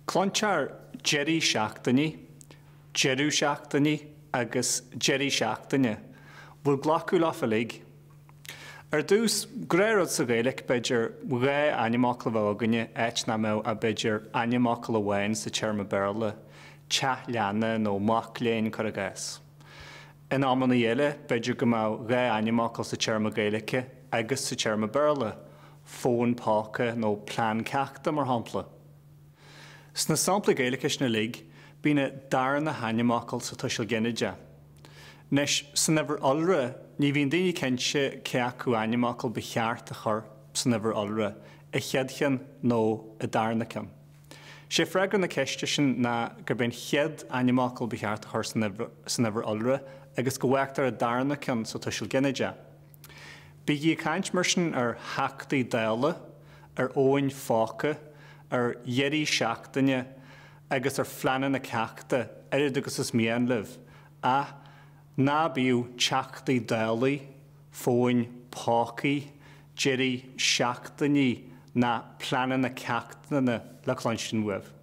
Cluintear deirí seachtainí, deireadh seachtainí agus deirí seachtaine, bhfuil glacadh leo uilig? Ar dtús, de ghnáth, rud sa Ghaeilge, b'fhéidir, dhá ainmfhocal a bheadh againn in áit nach mbeadh ach b'fhéidir ainmfhocal amháin sa téarma Béarla, teach leanna nó mac léinn, cuir i gcás. In amannaí eile, b'fhéidir go mbeadh dhá ainmfhocal sa téarma Gaeilge agus sa téarma Béarla, fón póca nó plean ceachta, mar shampla. Sna samplaí Gaeilge sin uilig, bíonn an darna hainmfhocal sa tuiseal ginideach. Anois, san uimhir iolra, ní bhíonn daoine cinnte cé acu ainmfhocal ba cheart a chur san uimhir iolra, an chéad cheann nó an darna ceann. Sé freagra na ceiste sin ná gurb é an chéad ainmfhocal ba cheart a chur san uimhir iolra agus go bhfágtar an darna ceann sa tuiseal ginideach. Bígí ag caint mar sin ar theachtaí Dála, ar fhóin phóca, ar dheirí seachtaine agus ar phleananna ceachta oiread agus is mian libh, ach ná bíodh teachtaí Dálaí fóin pócaí, deirí seachtainí ná pleananna ceachtanna le cluinstin uaibh.